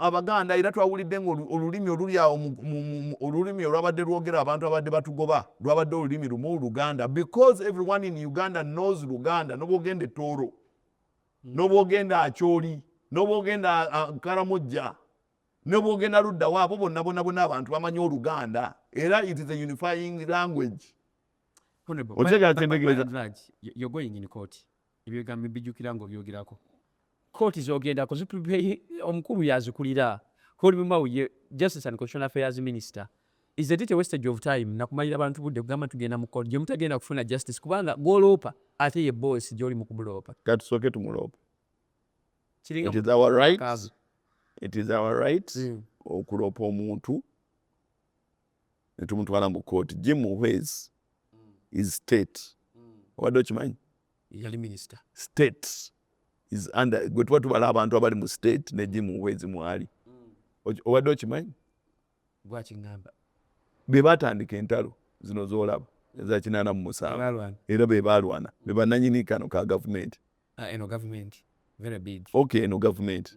[SPEAKER 2] Abaganda era twawulidde nga olulimi oluli awo olulimi olwabadde lwogera abantu abadde batugoba lwabadde olulimi lumu Luganda because everyone in Uganda knows Luganda nobwogenda etooro hmm. nobwogenda akyoli nobwogenda karamujja nobwogenda luddawo abo bonna bona bona abantu bamanyi oluganda era it is a unifying language otegeera
[SPEAKER 3] kyendegeeza Ebigambo mbijukira nga obyogerako. Kooti zogendako zitubye omukulu yazikulira Hori Mumau ye Justice and Constitutional Affairs Minister is a little wastage of time nakumalira abantu budde kugamba tugenda mu court gyemutagenda kufuna justice kubanga gwoloopa ate ye boss gyoli mu kumuloopa katusooke tumuloopa
[SPEAKER 2] it is our right it is our right mm. okuloopa omuntu ne tumutwala mu kooti jim muhwezi is state obadde okimanyi yali minister
[SPEAKER 3] state is
[SPEAKER 2] under gwe tuba tubala abantu abali mu state ne jim muhwezi mwali obadde okimanyi gwakingamba
[SPEAKER 3] be
[SPEAKER 2] batandika entalo zino zolaba eza kinaana mu musanvu era be balwana be bananyini kano ka gavumenti ah, eno gavumenti
[SPEAKER 3] very big okay eno gavumenti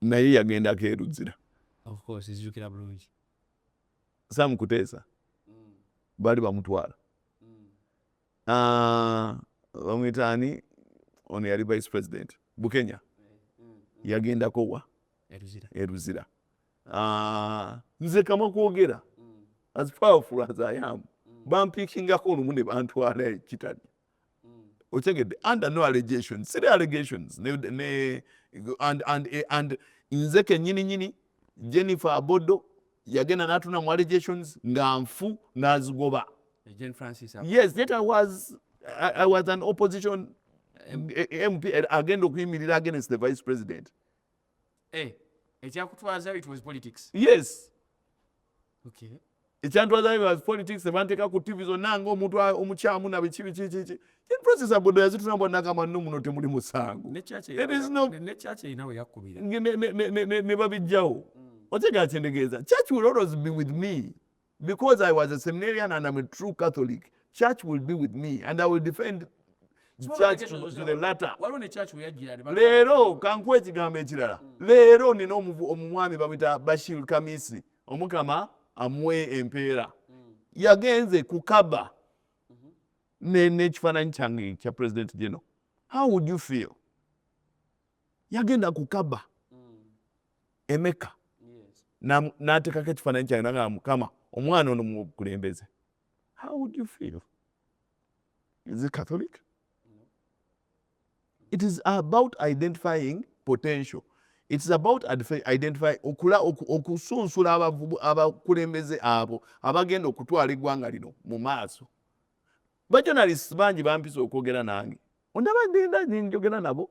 [SPEAKER 2] naye yagendako e Luzira. Of course,
[SPEAKER 3] nzijukira bulungi.
[SPEAKER 2] Sam Kuteesa mm. baali bamutwala mm. ah, bamwita ani ono yali vice president Bukenya eh, mm, mm. yagendako wa e Luzira e ah, nze kama kwogera mm. as powerful as I am mm. bampikingako olumu ne bantwala ekitali mm. otegedde under no allegations siri allegations ne, ne, and, and, eh, and nze kenyini nyini jennifer abodo yagenda natuna mu allegations nga nfu nazigoba yes yet i was, I, i was an opposition mp eh, eh, agenda okuyimirira against the vice president Eh,
[SPEAKER 3] ekyakutwazayo it was politics yes okay
[SPEAKER 2] ekyantwazayo was politics ebanteeka ku tv zonna nga omuntu omukyamu nabiki biki kiki process abodo yazitulamba nakama no muno temuli musango
[SPEAKER 3] ne
[SPEAKER 2] babijjawo mm. otegeera kyendegeeza church will always be with me Because I was a seminarian and I'm a true Catholic, church will be with me and I will defend church to, to the latter. Leero kankuwa ekigambo ekirala. Hmm. Leero nina omumwami bamwita Bashir Kamisi omukama amuwe empeera. Hmm. Yagenze ku kaba mm-hmm. n'ekifaananyi kyange kya president gino. How would you feel? Yagenda ku kaba. emeka natekako ekifananyi kyange naga mukama omwana ono mukulembeze how would you feel is it catholic it is about identifying potential its about identify okula okusunsula abakulembeze abo abagenda okutwala eggwanga lino mu maaso bajonalist bangi bampisa okwogera nange ondaba nenda njogera nabo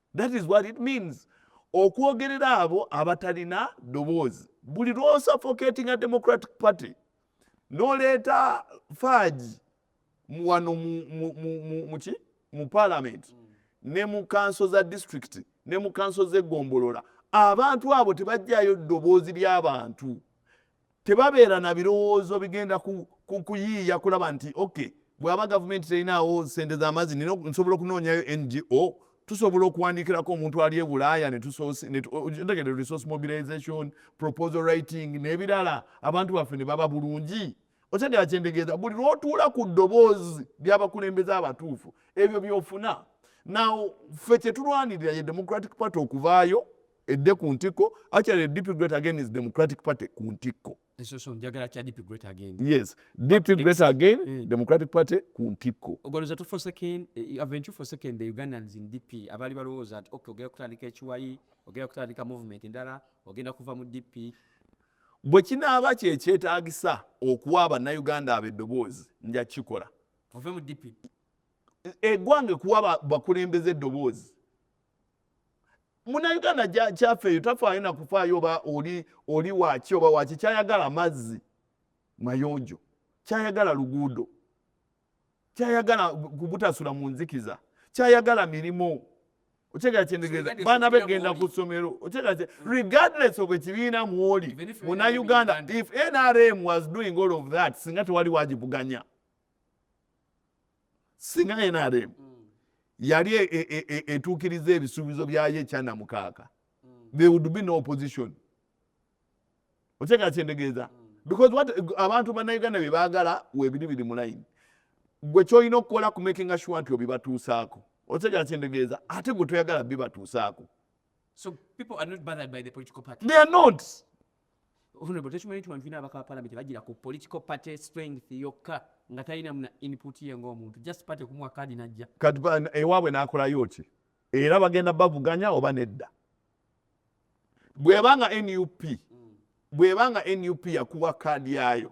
[SPEAKER 2] that is what it means okwogerera abo abatalina ddoboozi buli lwosafocatinga democratic party noleeta faagi wano muki mu parliament ne mu kanso za district ne mu kanso zegombolola abantu abo tebajjayo ddoboozi lyabantu tebabeera na birowoozo bigenda kuyiiya kulaba nti ok bwaba gavumenti terinaawo sente z'amazzi nina nsobola okunoonyayo ngo tusobola okuwandiikirako omuntu ali e bulaaya netutegede resource mobilization proposal writing n'ebirala abantu baffe ne baba bulungi otegera kyendegeeza buli lwotuula ku ddoboozi lyabakulembeza abatuufu ebyo byofuna naw ffe kyetulwanirira ye democratic party okuvaayo edde ku ntikko actually the DP great again is democratic party ku ntikko yes
[SPEAKER 3] DP great
[SPEAKER 2] again mm. democratic party ku ntikko ogoloza tu for second
[SPEAKER 3] eh, aventure for second the Ugandans in DP abali balowooza ati okay ogenda kutandika ekiwayi ogenda kutandika movement endala ogenda kuva mu DP bwe
[SPEAKER 2] kinaaba kyekyetaagisa okuwa abannayuganda abo eddoboozi nja kukikola ove mu DP
[SPEAKER 3] eggwanga
[SPEAKER 2] ekuwa bakulembeza eddoboozi munauganda kyafeeyo tafaayo nakufaayo oba oli oli waki oba waki kyayagala mazzi mayonjo kyayagala luguudo kyayagala kubutasula mu nzikiza kyayagala mirimu okyegala kyendegeeza baana begenda ku ssomero okyegala kye regardless of ekibiina mwoli munauganda if nrm was doing all of that singa tewali wagivuganya singa nrm mm. yali e, e, e, etuukiriza ebisuubizo byayo ekyana mukaaka mm. there would be no opposition okyeka kyendegeeza mm. because what abantu bannayuganda bye baagala webiri biri mu layini gwe kyolina okukola ku makinga sure nti obibatuusaako okyeka kyendegeeza ate gwe toyagala bibatuusaako so
[SPEAKER 3] people are not bothered by the political party they are not Honorable tekimanyi nti wano tulina abaka ba palamenti bajira ku political party strength yokka nga talina muna input ye ng'omuntu just party kumuwa kaadi najja kati ewaabwe
[SPEAKER 2] n'akolayo ki era bagenda bavuganya oba nedda bwebanga nup bwebanga nup yakuwa kaadi yaayo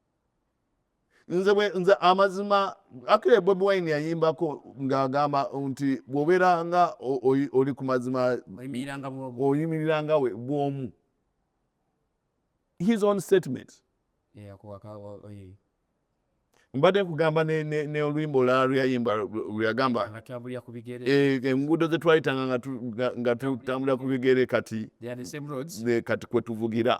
[SPEAKER 2] nze nze amazima akile bobi wine yayimbako ng'agamba nti bw'obeera nga oli ku mazima oyimirira nga bw'omu his own statement mbadde nkugamba n'oluyimba olulala lweyayimba lweyagamba eh, enguudo ze twayitanga nga tutambulira ku bigere kati kati kwe tuvugira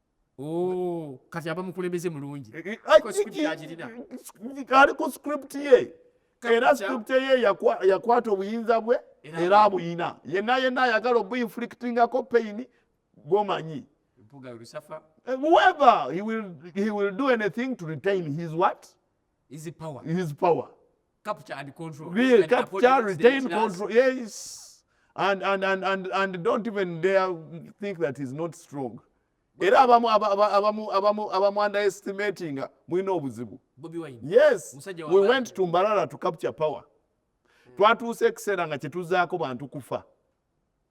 [SPEAKER 2] Oh,
[SPEAKER 3] kati aba mukulembeze mulungi
[SPEAKER 2] eh, eh, ali ku script ye era script ye yakwata obuyinza bwe era abuyina yenna yenna ayagala obuinflictingako pain gomanyi eh, whoever he will, he will do anything to retain his what His power.
[SPEAKER 3] His power.
[SPEAKER 2] Capture and
[SPEAKER 3] control. Really, and capture,
[SPEAKER 2] retain, control. Yes. And, and, and, and, and don't even dare think that he's not strong. era abamu abamu abamu abamu underestimating mulina obuzibu yes
[SPEAKER 3] we
[SPEAKER 2] went to mbarara to capture power hmm. twatuuse ekiseera nga kyetuzaako bantu kufa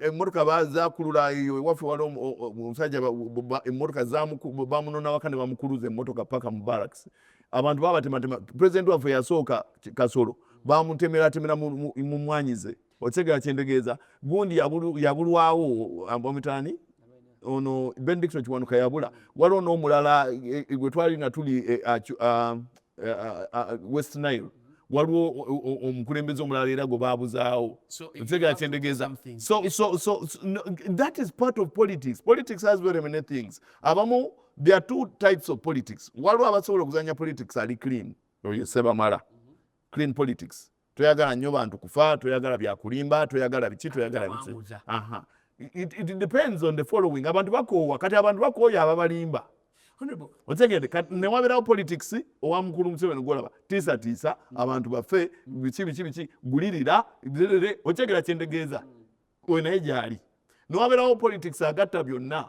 [SPEAKER 2] emotoka bazakulula eyo ewaffe wali omusajja emotoka bamunona waka ne bamukuluza emotoka paka mu barracks abantu babatematema president waffe yasooka kasolo bamutemeratemera mu mwanyize okitegera kyendegeeza gundi yabulwawo amitani ono ben dixon kiwanuka yabula waliwo n'omulala e, e, gwe twali nga tuli e, eh, ah, ah, ah, west nile waliwo omukulembeze omulala era gwe babuzaawo ntegera kyendegeeza that is part of politics politics has very many things abamu there are two types of politics waliwo abasobola okuzanya politics ali clean oyo sebamala clean politics toyagala nyo bantu kufa toyagala byakulimba toyagala biki toyagala biki aha it, it depends on the following abantu bakoowa kati abantu bakooya ababalimba otegede kati newaberawo politics owa mukulu museveni gwolaba tiisatiisa mm. abantu bafe biki biki biki gulirira otegera kyendegeeza mm. oyo naye gyali newaberawo politics agatta byonna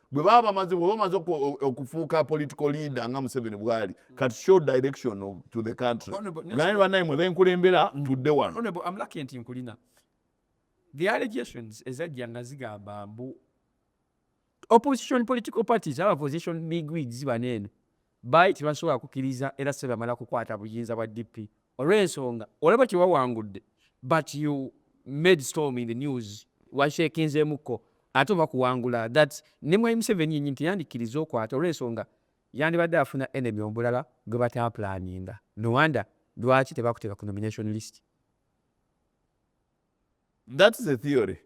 [SPEAKER 2] gwe baba bamaze bwe bamaze okufuuka political leader nga museveni bwali kati show direction to the country naye banaye mwe benkulembera tudde wano nti nkulina
[SPEAKER 3] the allegations ezajja nga zigamba mbu opposition political parties aba position big wigs baneeno Baali tebasobola kukiriza era sebamala kukwata buyinza bwa DP olwensonga olaba tewawangudde but you made storm in the news washekinzemuko ate oba kuwangula that ne mwami Museveni yenyini teyandikiriza okwata olwensonga yandibadde afuna enemy omulala gwebataplaninga no wonder lwaki tebakuteka ku nomination list.
[SPEAKER 2] That's a theory.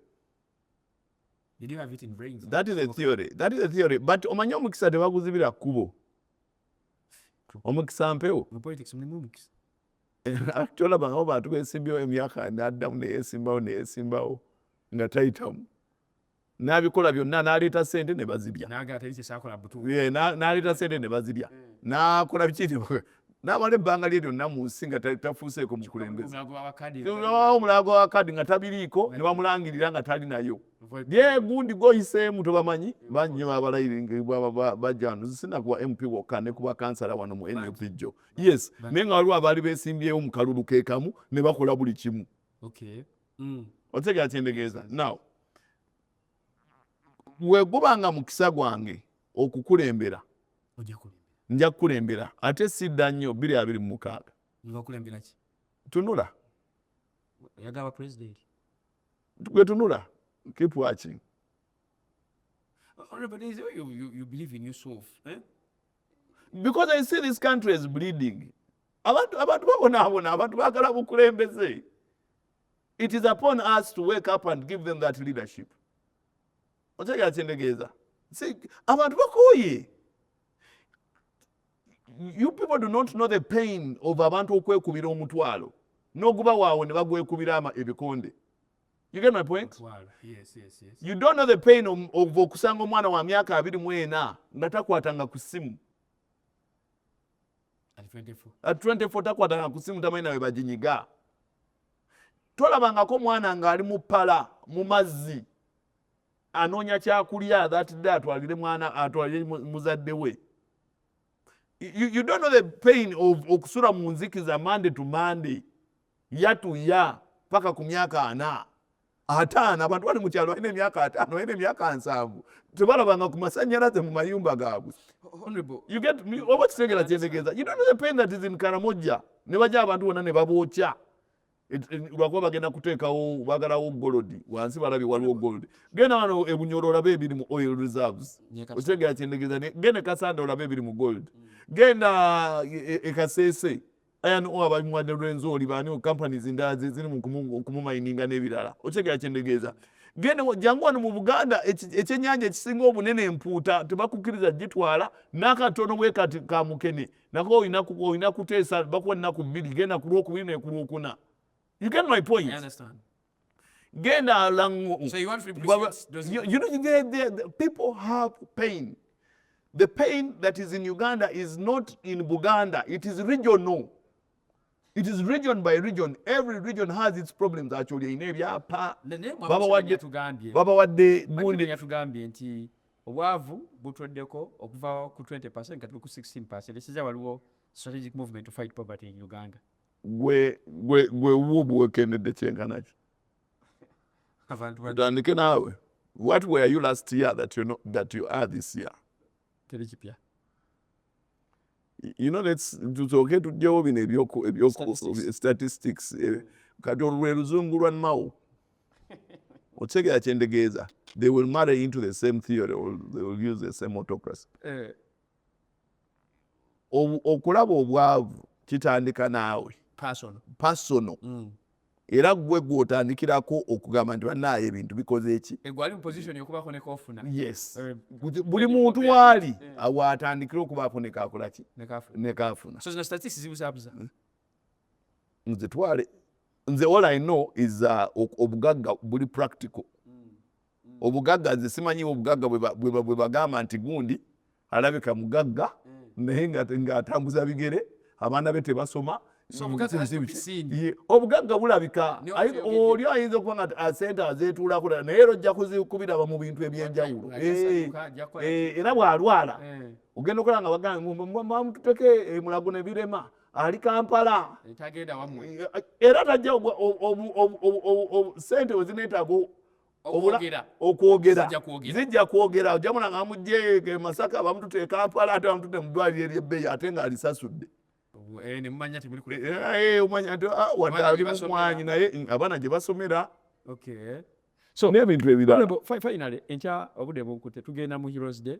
[SPEAKER 3] Did you have it in brains? That is a theory.
[SPEAKER 2] That is a theory. But omanyi omukisa tebaguzibira
[SPEAKER 3] kkubo.
[SPEAKER 2] Omukisa mpewo. Mu politics mulimu
[SPEAKER 3] omukisa.
[SPEAKER 2] Tolaba ngabo bantu beesimbyewo emyaka n'addamu neyeesimbawo neyeesimbawo nga tayitamu. N'abikola byonna n'aleeta sente ne bazirya. N'aleeta sente ne bazirya. N'akola biki n'amala ebbanga lye lyonna mu nsi nga tafuuseeko mukulembeze omulago wa kadi nga tabiriiko ne bamulangirira nga tali nayo byegundi goyiseemu tobamanyi bannyo abalayirinkbajjanusina kuba mp wokka ne kuba kansala wano mu nup jjo yes naye nga waliwo abaali besimbyewo mu kalulu kekamu ne bakola buli kimu mm. otegera kyendegeeza now weguba nga mukisa gwange okukulembera nja kukulembera ate sidda nnyo biri abiri mu mukaaga tunula
[SPEAKER 3] gwe
[SPEAKER 2] tunula keep watching
[SPEAKER 3] eh? because
[SPEAKER 2] i see this country is bleeding abantu babonaabona abantu bagala bukulembeze it is upon us to wake up and give them that leadership otegera kyendegeeza abantu bakooye you people do not know the pain of abantu okwekubira omutwalo noguba waawo ne bagwekubira ebikonde you get my point yes, yes, yes.
[SPEAKER 3] you don't know the
[SPEAKER 2] pain of, of okusanga omwana wa myaka abiri mwena nga takwatanga ku simu at 24 at 24 takwatanga ku simu tamanyi nawe baginyiga tolabangako mwana ng'ali mu pala mu mazzi anoonya kyakulya thatde atwalire mwana atwalire muzadde we you, you don't know the pain of okusula mu nzikiza monday to monday yatuya paka ku myaka ana ataano abantu bali mu kyalo balina emyaka ataano balina emyaka nsanvu tebalabanga ku masanyalaze mu mayumba gaabwe oba kitegera kyetegeeza karamojja ne baja abantu bonna ne babookya lwakuba bagenda kuteekawo bagalawo golodi wansi balabye waliwo golodi genda wano ebunyoro olabe ebiri mu oil reserves okitegera kyentegeeza genda e kasanda olabe ebiri mu gold mm. genda ekaseese e, e Ayan O ababimuwadde Rwenzori baani companies endala zeziri mu kumumayininga n'ebirala okitegera kyendegeeza genda jangu wano mu Buganda ekyennyanja ekisinga obunene empuuta tebakukkiriza gitwala n'akatono bwe kati ka mukene nako olina kuteesa bakuwa ennaku bbiri genda ku lwokubiri nekulwokuna you get my point
[SPEAKER 3] genda
[SPEAKER 2] alangu so you want replacements
[SPEAKER 3] does you, you know the,
[SPEAKER 2] the, the people have pain the pain that is in Uganda is not in Buganda it is regional it is region by region every region has its problems actually in ebyapa baba wadde tugambye baba wadde gundi yatugambye nti
[SPEAKER 3] obwavu butweddeko okuva ku 20% kati ku 16% esiza waliwo strategic movement to fight poverty in Uganda gwe
[SPEAKER 2] gwe gwe wuwo buwekendedde kyenkanaki tutandike naawe what were you last year that you, know, that you are this year teri kipya you know let's tusooke tujjewo bino ebyoku ebyoku statistics eh, kati olwe luzungu lwa mawo okitegera kyendegeeza they will marry into the same theory or they will use the same autocracy eh. okulaba obwavu kitandika naawe pasono mm. era gwe gwotandikirako okugamba nti banaayo ebintu bikoze eki eh,
[SPEAKER 3] eh,
[SPEAKER 2] buli muntu waali eh. awatandikira okubaako nekakolaki nekafuna hmm? nze twale nze all i know is uh, obugagga buli practical obugagga nze simanyiwo obugagga bwebagamba nti gundi alabika mugagga mm. naye ngaatambuza bigere abaana be tebasoma obugagga bulabika oli ayinza okuba nga ah, sente azetuulako dala naye era ojja kubiraba mu bintu ebyenjawulo eh, eh, era bwalwala eh. ogenda okola nga bagamamututeke emulago nebirema ali kampala era tajja sente wezinetaaga okwogera zijja kwogera ojamuna nga amugye e masaka bamutute e kampala ate bamutute mu ddwaliro eryebbeyi ate nga alisasudde
[SPEAKER 3] eh, eh, eh, omanya nti ah, wadde ali
[SPEAKER 2] mumwanyi naye mm, abaana gye basomera
[SPEAKER 3] so n'ebintu ebirala
[SPEAKER 2] finally enkya
[SPEAKER 3] obudde bunkute tugenda mu heroes day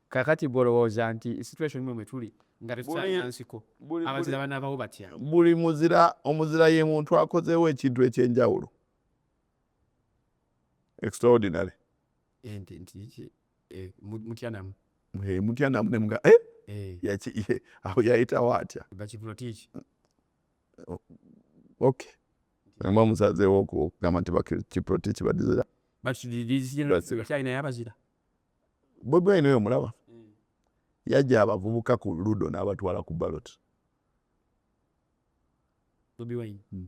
[SPEAKER 3] Kakati gwe olowooza nti situation mwe mwetuli nga tetukyalina nsiko abazira banabawo batya? Buli muzira
[SPEAKER 2] omuzira ye muntu akozeewo ekintu ekyenjawulo extraordinary ente nti ki eh,
[SPEAKER 3] mutya namu eh, mutya namu
[SPEAKER 2] ne mga eh, eh. yaki ye awo yayitawo atya bakivulo tiki oh, okay mba musazeewo okugamba nti bakiprotiki badizira bakidizira
[SPEAKER 3] kyalina yabazira Bobi
[SPEAKER 2] Wine oyo mulaba hmm. yajja abavubuka ku ludo n'abatwala ku ballot
[SPEAKER 3] Bobi Wine hmm.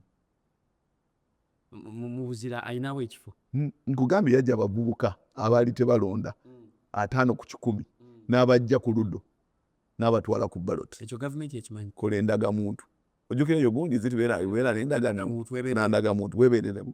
[SPEAKER 3] mubuzira ayinawo ekifo hmm, nkugambye yajja
[SPEAKER 2] abavubuka abaali tebalonda ataano ku kikumi n'abajja ku ludo n'abatwala ku ballot ekyo gavumenti ekimanyi
[SPEAKER 3] kola endagamuntu
[SPEAKER 2] ojjukira eyo gundi zitubeera beera nendagamuntu webeereremu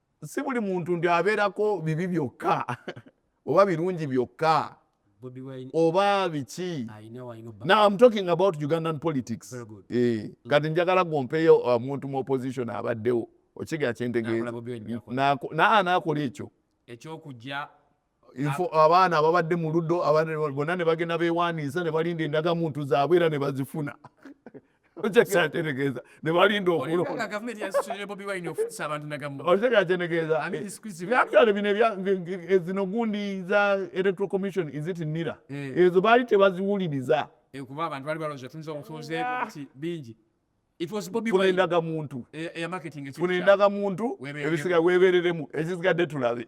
[SPEAKER 2] si buli muntu nti abeerako bibi byokka oba birungi byokka
[SPEAKER 3] oba biki
[SPEAKER 2] now i'm
[SPEAKER 3] talking about
[SPEAKER 2] ugandan politics eh,
[SPEAKER 3] mm. kati njagala
[SPEAKER 2] gompeyo omuntu uh, mu opposition abaddewo okiga kyentegeeza nakola ekyo ekyokujja
[SPEAKER 3] info
[SPEAKER 2] abaana ababadde mu ludo bonna ne bagenda beewaaniisa ne balinda endagamuntu zaabwe era ne bazifuna okyategeeza ne balinda okulondaokitegeezazino gundi za electoral commission izit nira eh. ezo baali tebaziwuliriza eh, kuba abantu bali
[SPEAKER 3] balooza tuyinza omutuuze ah. nti bingi funa endaga muntu
[SPEAKER 2] funa
[SPEAKER 3] endaga muntu
[SPEAKER 2] ebisiga weebereremu ekisigadde tulabe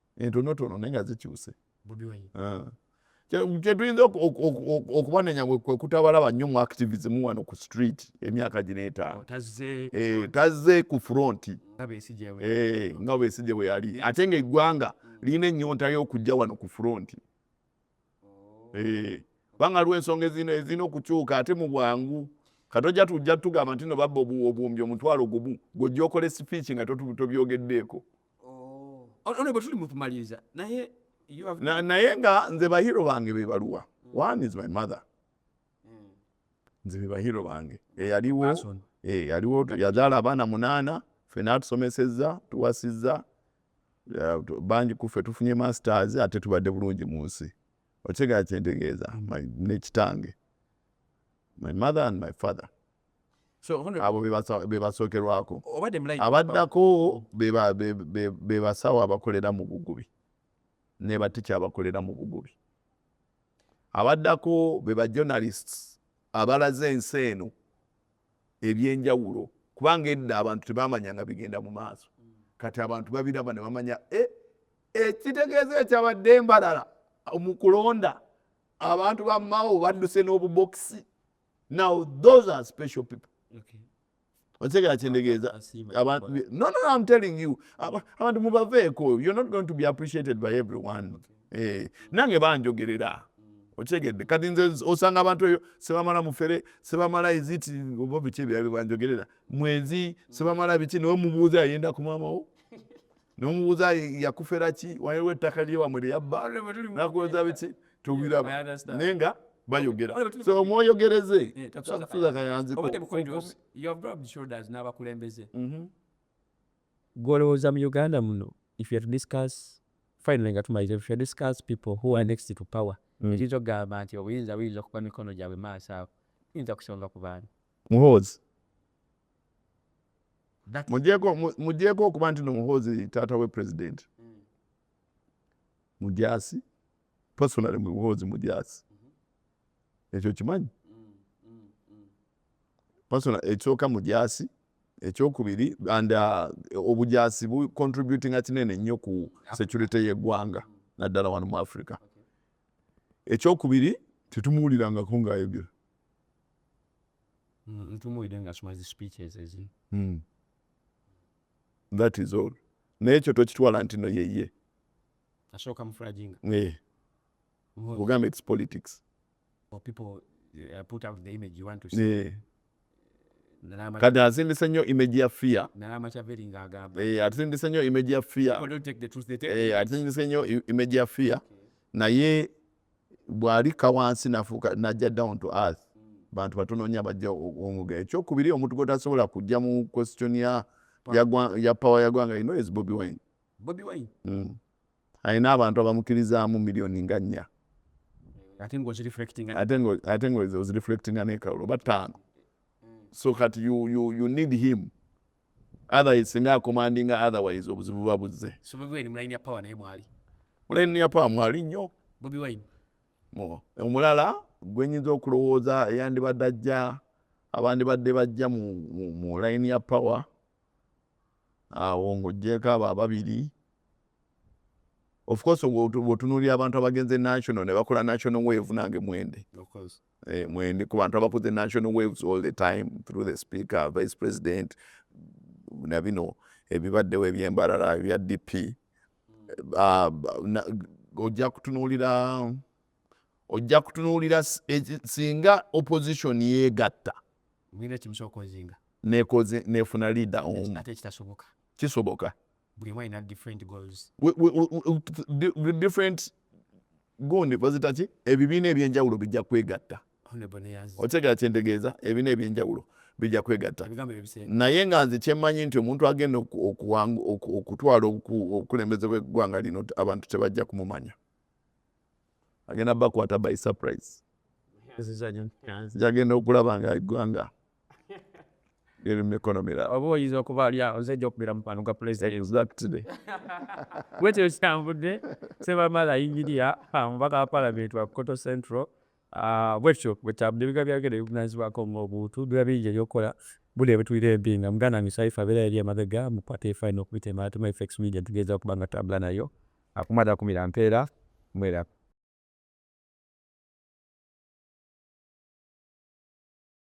[SPEAKER 2] entonotono naye nga zikyuse
[SPEAKER 3] ah.
[SPEAKER 2] kyetuyinza okubanenya kwekutabalaba nnyo mu activism wano ku street emyaka gino etaano eh, tazze ku fronti nga besigye bwe yali ate nga eggwanga lirina ennyonta y'okujja wano ku fronti eh, kubanga aliwo ensonga ezirina okukyuka ate mu bwangu katojja tujja tugamba nti no babba obuwumbi omutwalo gumu gwojja okola esipiiki nga tobyogeddeeko
[SPEAKER 3] oh. bwetuli mukumaliriza naye naye
[SPEAKER 2] nga nze bahiro bange bebaluwa hmm. one is my mother hmm. nze bebahiro bange eyaliwo eyaliwo yazaala abaana munaana fena atusomesezza tuwasizza bangi kuffe tufunye masters ate tubadde bulungi mu nsi okitegera kyentegeeza nekitange my mother and my father
[SPEAKER 3] abo
[SPEAKER 2] bebasookerwako abaddako bebasawo abakolera mu bugubi nebatikya abakolera mu bugubi abaddako bebajournalists abalaze ensi eno ebyenjawulo kubanga edda abantu tebamanyanga bigenda mu maaso kati abantu babiraba ne bamanya eh, ekitegeeza ekyabadde embalala mu kulonda abantu ba mao badduse n'obubokisi now those are special people okitegera kyendegeeza no no i'm telling you abantu mubaveeko you're not going to be appreciated by everyone okay. Eh, nange banjogerera okyegedde kati nze osanga abantu eyo sebamala mufere sebamala eziti oba biki ebirala byebanjogerera mwezi sebamala biki nawe mubuuza yayenda ku maamawo nomubuuza yakufera ki waliwo ettaka lyewamwe lyeyabba nakuweza biki tubiraba naye nga bayogera so omwoyogereze tuza kayanziko
[SPEAKER 3] Gwe
[SPEAKER 1] olowooza mu Uganda muno if you are to discuss finally nga tumaliza if you are to discuss people who are next to power ekiyinza okugamba nti obuyinza buyinza okuba mikono gyabwe maaso awo tuyinza kusonga ku baani muhoozi
[SPEAKER 2] mujeeko okuba nti nomuhoozi taata we president mm. mujasi personally muhoozi mujasi mm-hmm. ekyo kimanyi personal ekyoka mujaasi ekyokubiri and uh, obujaasi bu contributinga kinene nnyo ku security yeggwanga naddala wano mu africa ekyokubiri tetumuwulirangako ngaayogera
[SPEAKER 3] mm, hmm.
[SPEAKER 2] that is all naye ekyo tokitwala nti no yeye asooka
[SPEAKER 3] mufulaginga eh.
[SPEAKER 2] ogamba its politics kati asindise nnyo image ya fear
[SPEAKER 3] eh, asindise nnyo image
[SPEAKER 2] ya fear
[SPEAKER 3] eh, asindise nnyo
[SPEAKER 2] image ya fear naye bw'alikka wansi nafuuka najja down to earth bantu batono nnyo abajja omuga ekyokubiri omuntu gwetasobola kujja mu question ya power ya gwanga ino is bobi wine bobi wine mm. alina abantu abamukirizaamu miliyoni nga nnya ate nga ozireflectinga nekawulo oba ttaano so kati you, you, you need him otherwise singa akomandinga otherwise obuzibu buba buzze mulayini ya pawa
[SPEAKER 3] naye mwali mulayini ya pawa
[SPEAKER 2] mwali nnyo bobi wine omulala gwenyinza okulowooza eyandibadde ajja abandibadde bajja mu layini ya pawa awo ng'oggyeeko abo ababiri ofcourse bwotunuulira abantu abagenze national ne bakola national wave nange mwende eh, mwende ku bantu abakoze national waves all the time through the speaker vice president na bino ebibaddewo ebyembalala ebya dp hmm. ah, ojja kutunuulira ojja kutunuulira singa opposition yeegatta nefuna leader omu kisoboka
[SPEAKER 3] different
[SPEAKER 2] gundi bazitaki ebibiina ebyenjawulo bijja kwegatta otegera kyentegeeza ebibiina ebyenjawulo bijja kwegatta naye nga nze kyemmanyi nti omuntu agenda okutwala okulemezebwa eggwanga lino abantu tebajja kumumanya agenda bakwata by surprise jagenda okulaba nga eggwanga liri mu mikono mirala oba oyinza okuba ali awo
[SPEAKER 1] nze ejja okubeera mukwano gwa pulezidenti bwekyo kitambudde sebamala yingiriya omubaka wa palamenti wa koto central Ah, bwekityo bwetaabu nebiga byagenda bivunanyizibwako nga omuntu biba bingi ebyokukola buli ebitulira empi nga muganda wange saifa abeera yali emabega mukwata efaino okubitema atema effects media tugeeza okuba nga tambula nayo akuma takumira mpeera mwerabe